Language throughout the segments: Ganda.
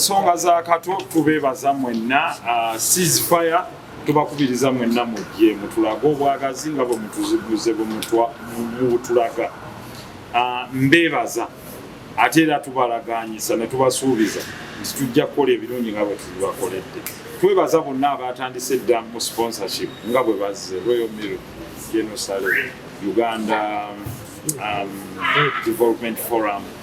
ensonga za kato tubeebaza mwenna uh, ceasefire tubakubiriza mwenna mujje mutulage obwagazi nga bwe mutuziguze bwe mubutulaga uh, mbeebaza ate era tubalaganyisa ne tubasuubiza nti tujja kukola ebirungi nga bwe tubibakoledde twebaza bonna abatandise edda mu sponsorship nga bwe bazze royal mil genosale uganda um, development forum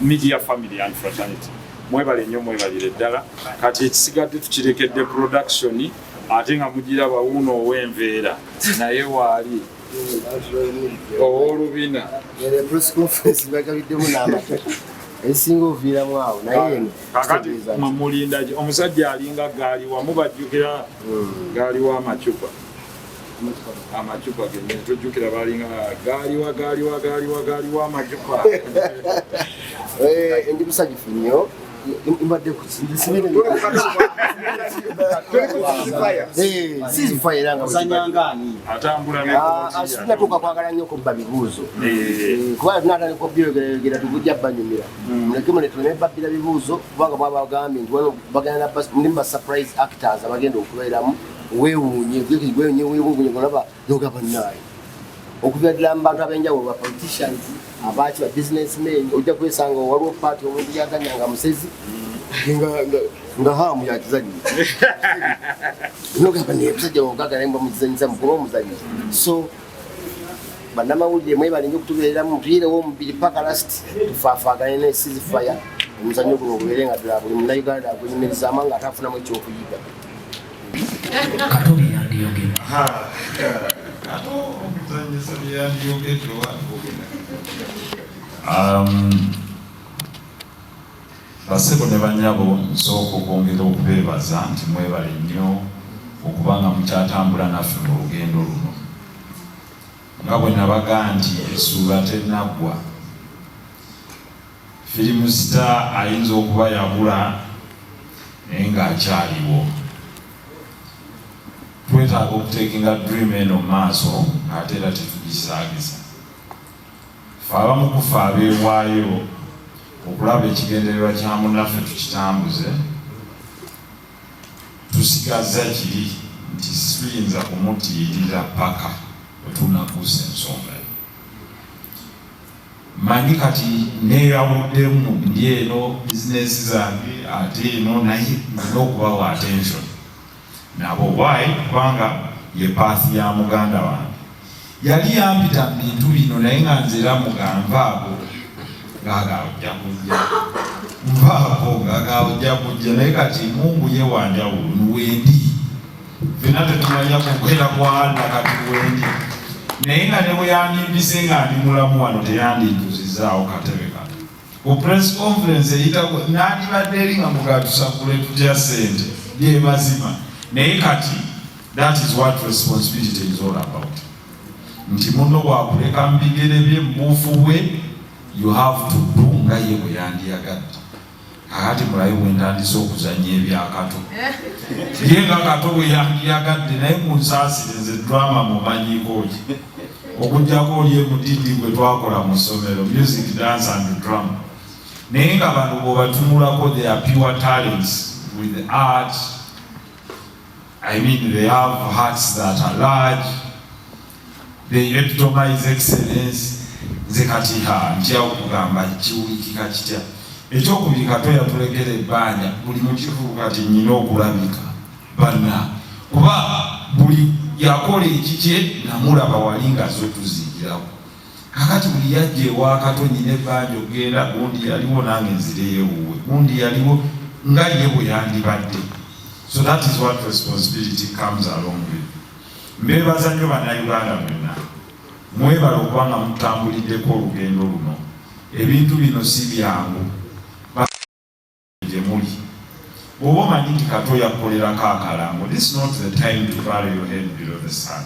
Media family and fraternity mwebale nnyo mwebalire ddala kati ekisigadde tukirekedde production ate nga mugira bawuuno ow'enveera naye waali ow'olubina esinga oviiramu awo nayekakati mumulindaki omusajja alinga gaali wamu bajjukira hmm. gaali w'amacupa amacupa gene tujjukira balinga gaaliwa gaaliwa gaaliwa gaaliwa amacupa eh, ndi musanyufu nnyo mbadde kusinatuuka kwagala nnyo kubba bibuuzo kubanga tunatandika obyogerayogera tugujja banyumira muleke mune tuleme babbira bibuuzo kubanga bwabagambye nti bagenda ndi mu basuprise actors abagenda okubeeramu weewuunye weewuunye olaba noga bannaayo okuva ddala mu bantu ab'enjawulo ba politicians abaaki ba business men ojja kwesanga waliwo paati omuntu yaganya nga musezi nga haamu yakizanyi nogamba naye musajja wogaga naye mbamuzanyisa mukuba omuzanyi so bannamawulire mwebale nyo okutubeereramu mutuyirewo omubiri paka last tufaafaagane ne sizifaya omuzannyo guno ogubeere nga ddala buli munnauganda agwenyumirizaama nga ataafunamu ekyokuyiga kato byeyandiyogedde um, basebo ne banyabo nsooka okwongera okubeebaza nti mwebale nnyo okuba nga mukyatambula naffe mu lugendo luno nga bwe nabaga nti esuula tenaggwa Firimu sita ayinza okuba yabula naye ng'akyaliwo. Twetaaga okuteekinga dream eno mu maaso ng'ate era tetugisaagiza. Ffe abamu ku ffe abeewaayo okulaba ekigendererwa kya munnaffe tukitambuze, tusigazza kiri nti situyinza kumutiirira ppaka bwe tunakuusa ensonga. Manyi kati neyawuddemu ndi eno business zange ate eno naye nina okubawa attention nabo why kubanga ye path ya muganda wange yali yampita mu bintu bino naye nga nze era muganva ago gagaojja kujja nvaako gagaojja kujja naye kati mungu ye wanjawulo nuwendi Fena tetumanya kukwera kwanda kati wendi naye nga ne bweyandimpise nga ndi mulamu wano teyandinjuzizaawo katebe kano ku press conference eyitako nandibadde eri nga mugatusakule tutya sente lyemazima naye kati that is what responsibility is all about nti muno wakuleka mu bigere bye mubuufu bwe you have to do nga ye bweyandiyagadde Kakati mulabe bwe ntandise okuzannya ebyakato ye nga kato bwe yandiyagadde naye munsaasire nze drama mumanyiiko ki okujjako oli emutindi gwe twakola mu ssomero music dance and drama naye nga bano bwebatunulako their pure talents with art i mean they have hearts that are large They epitomize excellence. Nze kati ha ntya okugamba kiwulikika kitya ekyokubiri kato yatulekera ebbanja buli mukivubu kati nyina okulabika banna kuba buli yakola ekikye namulaba wali nga zotuzingirawo kakati buli yajja ewakato nyina ebbanja okugenda gundi yaliwo nange nzireyewuwe gundi yaliwo nga ye bwe yandibadde so that is what responsibility comes along with Mbeebaza nnyo Bannayuganda mwenna, mwebale okuba nga mutambuliddeko olugendo luno. Ebintu bino si byangu gye muli. Bw'oba omanyi nti kati oyakukolerako akalango, this not the time to bury your head below the sun.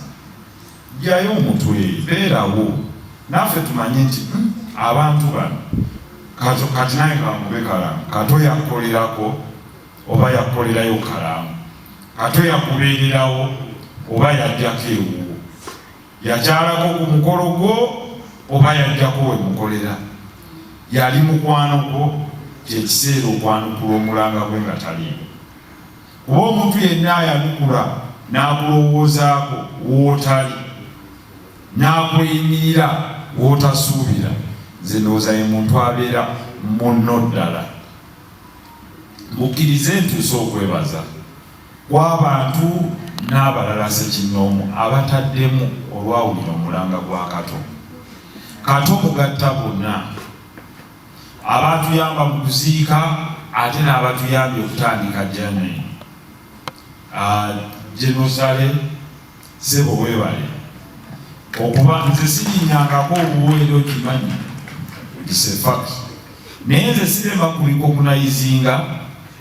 Ggyayo omutwe, beerawo naffe tumanye nti hmm, abantu bano kati nange kangube kalango, kati oyakukolerako oba yakukolerayo kalaamu ate yakubeererawo oba yajjako ewuwo yakyalako ku mukolo gwo oba yajjako we mukolera yali mukwano gwo kyekiseera okwanukula omulanga gwe nga taliimu kuba omuntu yenna ayanukula n'akulowoozaako wootali n'akweyimirira wootasuubira nze ndowooza ye muntu abeera munno ddala Mukkirize ntuuse okwebaza kw'abantu n'abalala ssekinnoomu abataddemu olwawulira omulanga gwa Kato. Kato mugatta bonna, abaatuyamba mu kuziika ate n'abatuyambye okutandika Germany, Genocide, Sebo webale okuba nze sinyingangako obuweero kimanyi isefak naye nze sirema kulikokunayizinga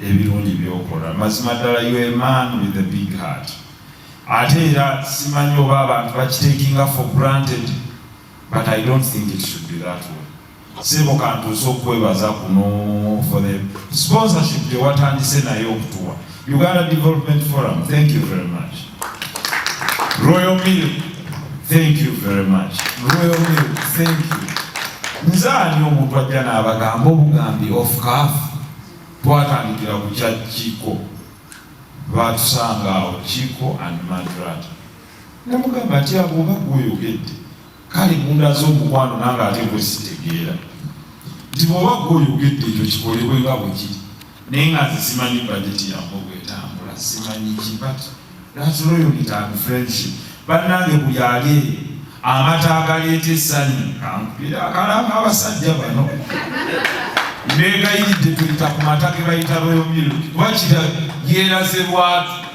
ebirungi byokola mazima ddala you a man with a big heart ate era simanyi oba abantu bakitekinga for granted But I don't think it should be that way. Sebo kantuuse okwebaza kuno for the sponsorship gye watandise naye okutuwa Uganda Development Forum, thank you very much. Royal Mill, thank you very much. Royal Mill, thank you. Nze ani omuntu ajja n'abagamba obugambi of calf twatandikira ku kya Kiko, baatusanga awo Kiko and Madrata Namugamba nti awo oba gwoyogedde kale mundaze omukwano nange ate gwe sitegeera nti bwoba gwoyogedde ekyo kikolebwe nga bwe kiri naye nga nze simanyi bajeti yange obwetambula simanyi ki but that's loyalty and friendship bannange buli ali amata agaleeta essanyu kankubira akalamba abasajja bano mbegayiridde tuyita ku mata ge bayita royal milk kuba kira yeeraze lwatu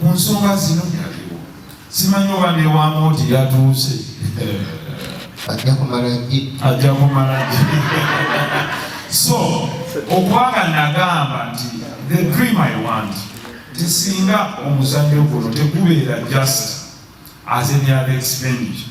ku nsonga zino yaliwo simanyi oba newamooti yatuuse ajja kumala gi ajja kumala gi so okwanga nagamba nti the dream i want tisinga omuzannyo guno tegubeera just as any other expenditure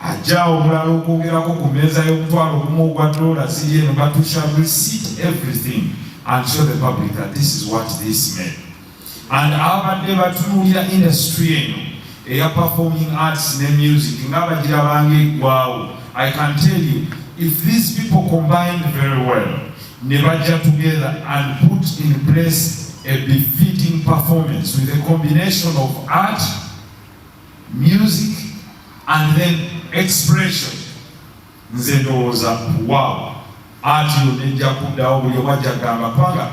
Ajja omulala okwogerako ku mmeeza y'omutwalo ogumu ogwa doola ziri eno but we shall receipt everything and show the public that this is what this meant and abadde batunuulira industry eno eya performing arts ne music nga bagira bange eggwawo i can tell you if these people combined very well ne bajja together and put in place a befitting performance with a combination of art music and then expression nze ndowooza wow anti yonejja kuddawo buli omu ajja gamba kubanga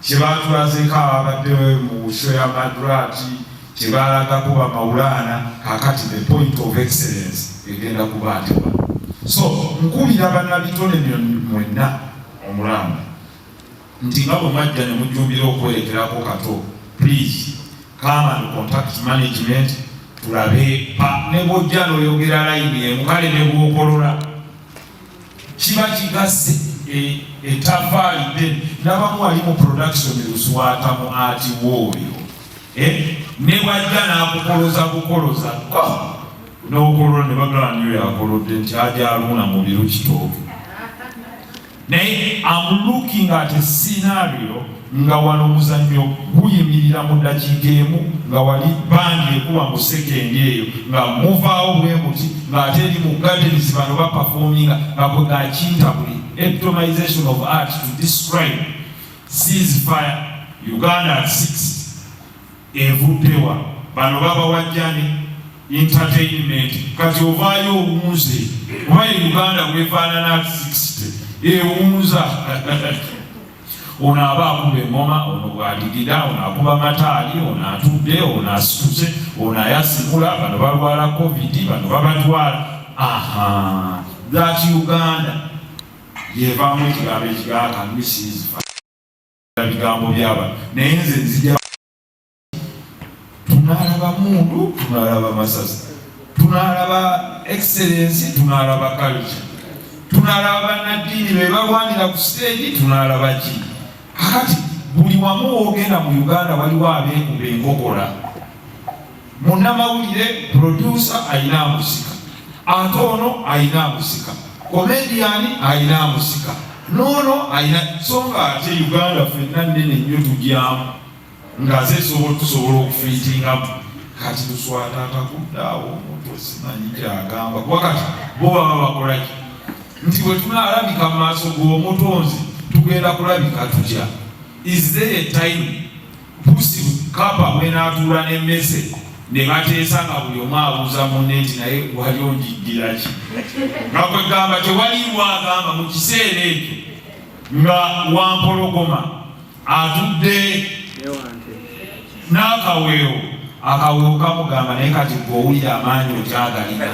kyebatulazeko ababadde mu sho ya madrati kyebalagako bamawulaana kakati the point of excellence egenda kuba nti so nkubira banabitone mwenna omulamba nti nga bwe mwajja ne mujjumbira okwerekerako kato please come and contact management tulabe pa ne bwojja n'oyogera layini emu kale ne bwokolola kiba kigase etafaali e, de nabamu ali mu production luswata mu ati wooyo eh, ne bwajja n'akukoloza bukoloza oh! n'okolola ne bagala niyo yakolodde nti aja aluuna mu biru kitooke naye am looking at a scenario nga wano omuzannyo guyimirira mu ddakiika emu nga wali bandi ekuba mu sekendi eyo nga muvaawo bwe muti ng'ate eri mu gardens bano bapafominga nga bwe gakintabuli eptomization of art to describe seas fire uganda at 60 Evudde wa? Bano babawa jani entertainment kati ovaayo owunze kuba e Uganda bwefaanana 60 ewunza ono aba akuba engoma ono bwadigida ono akuba mataali ono atudde ono asituse ono ayasikula bano balwala covid bano babatwala aha that uganda yevamu ekigambo ekigaaka misizifa bigambo byaba naye nze nzija tunalaba mundu tunalaba masasi tunalaba excellence tunalaba culture tunalaba banaddiini bebalwanira ku siteegi tunalaba ki akati buli wamu wogenda mu uganda waliwo abekuba enkokola Munnamawulire producer alina amusika, ate ono alina amusika, komediyani alina amusika, n'ono alina so nga ate Uganda fenna nnene nnyo tugyamu nga ze tusobola okufiitingamu kati tuswata atakuddaawo omuntu osimanyi kyagamba kuba kati bo baba bakolaki nti bwe tunaalabika mu maaso g'omutonzi tugenda kulabika tutya is there a time busi kapa mwenatuula nemmese ne bateesa nga buli omu abuuza munne nti naye wali onjiddira ki nga kwegamba tewaliimu agamba mu kiseera ekyo nga wampologoma atudde n'akaweewo akaweewo kamugamba naye kati gweowulira amaanyi okyagalira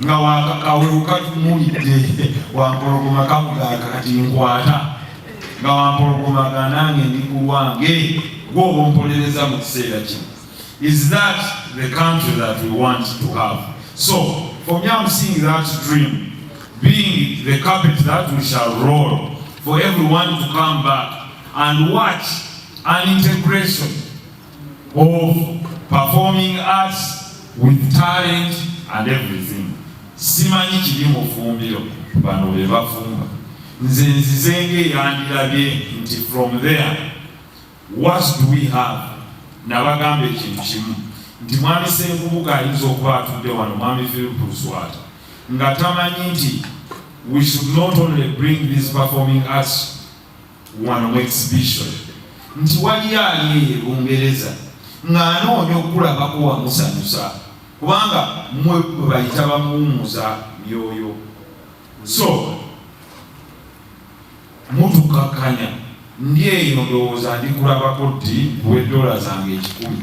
nga wakakaweuka tumulidde wampologoma kamugaka kati nkwata nga wampologoma ganange ndi ku lwange gwoba ompolereza mu kiseera kino is that the country that we want to have so for me am seeing that dream being the carpet that we shall roll for everyone to come back and watch an integration of performing arts with talent and everything simanyi kiri mu fumbiro bano be bafumba nze nzizenga eyandilabye nti from there what do we have nabagamba ekintu kimu nti mwami senkubuga ayinza okuba atudde wano mwami philip luswata nga tamanyi nti we should not only bring these performing arts wano mu exhibition nti waliyo ali eyo e Bungereza ng'anoonya okukulabako wamusanyusa kubanga mwe bayita bamuwummuza myoyo so mutukakkanya ndi eyo ndowooza ndikulabako ddi nkuwe dola zange ekikumi